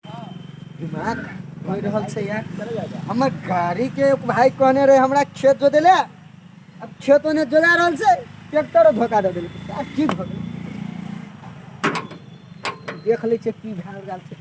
दिमाग हो रहल छै यार हमर गाड़ी के एक भाई कहने रहे हमरा खेत जोते ले अब खेत ओने जोता रहल छै ट्रैक्टर धोखा दे देलकै यार की भऽ गेलै देख लै छियै की भए रहल छै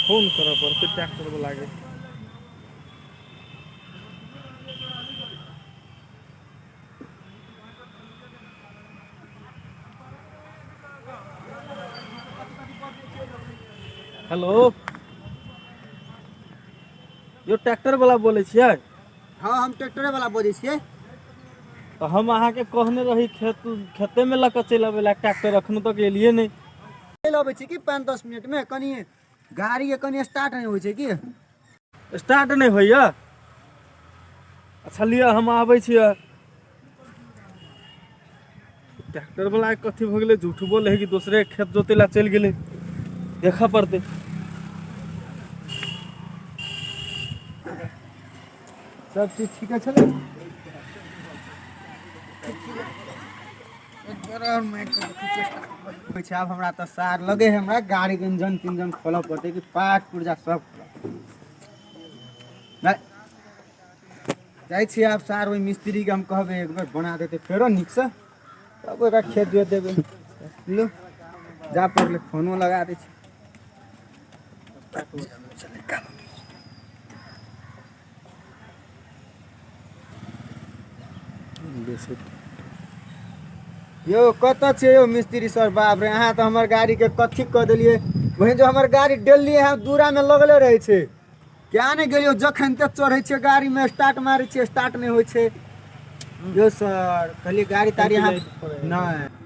फोन करऽ पड़तै ट्रैक्टर वला के हेलो यौ ट्रैक्टर वला बोलै छियै हँ हम ट्रैक्टरे वाला बजै छियै तऽ हम अहाँके कहने रही खेत खेतेमे लऽ कऽ चलि अबै लए ट्रैक्टर एखनो तक एलियै नहि चलि अबै छी कि पाँच दस मिनटमे कनि गाड़ीके कनि स्टार्ट नहि होइ छै कि स्टार्ट नहि होइए अच्छा लिअ हम आबै छी ट्रैक्टर वाला कथी भऽ गेलै झूठ बोल है कि दोसरे खेत जोते ला चलि गेलै देखऽ पड़तै सब चीज ठीके छलै छै आब हमरा तऽ सार लगे है हमरा गाड़ी के इंजन तिंजन खोलऽ पड़तै कि पार्ट पुर्जा सब जा- जाइ छी आब सार ओहि मिस्त्री के हम कहबै एक बेर बना देते फेरो नीक से तब ओकरा खेत जोत देबै लो जा पड़ले फोनो लगा दै छी यौ कतऽ छियै यौ मिस्त्री सर बाप रे अहाँ तऽ हमर गाड़ीके कथी कऽ देलियै वही जो हमर गाड़ी डेली यहाँ दूरामे लगले रहै छै क्या नहि गेलियौ जखन तक चढ़ै छियै गाड़ीमे स्टार्ट मारै छियै स्टार्ट नहि होइ छै यौ सर कहलियै गाड़ी ताड़ी अहाँ नहि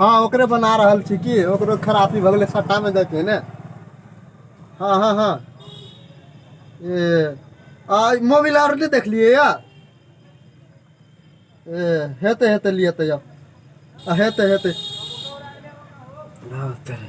हँ ओकरे बना रहल छी की ओकरो खरापी भऽ गेलै सट्टा मे दऽ के ने हँ हँ हँ ए आ मोबिल आर नहि देखलियै यऽ ए हेतै हेतै लिअ तऽ यौ आ हेतै हेतै हँ तेरे।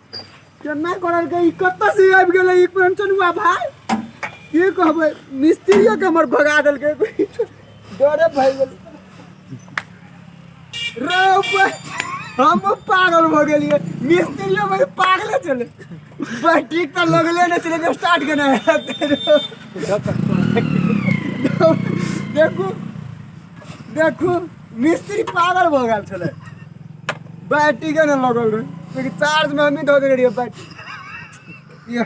केना करल के ई कत्ता से आबि गेलै ई कंचनुआ भाई की कहबै मिस्त्रियो के हमर भगा देलकै डरे भए गेल रे ऊपर हम पागल भऽ गेलियै मिस्त्रियो भाई पागले छलै बस ठीक तऽ लगले नहि छलै जे स्टार्ट केना हेतै देखू देखू मिस्त्री पागल भऽ गेल छलै बैटरी के ने लगल रहे लेकिन चार्ज में हमही धऽ देने रहियै बैटरी ये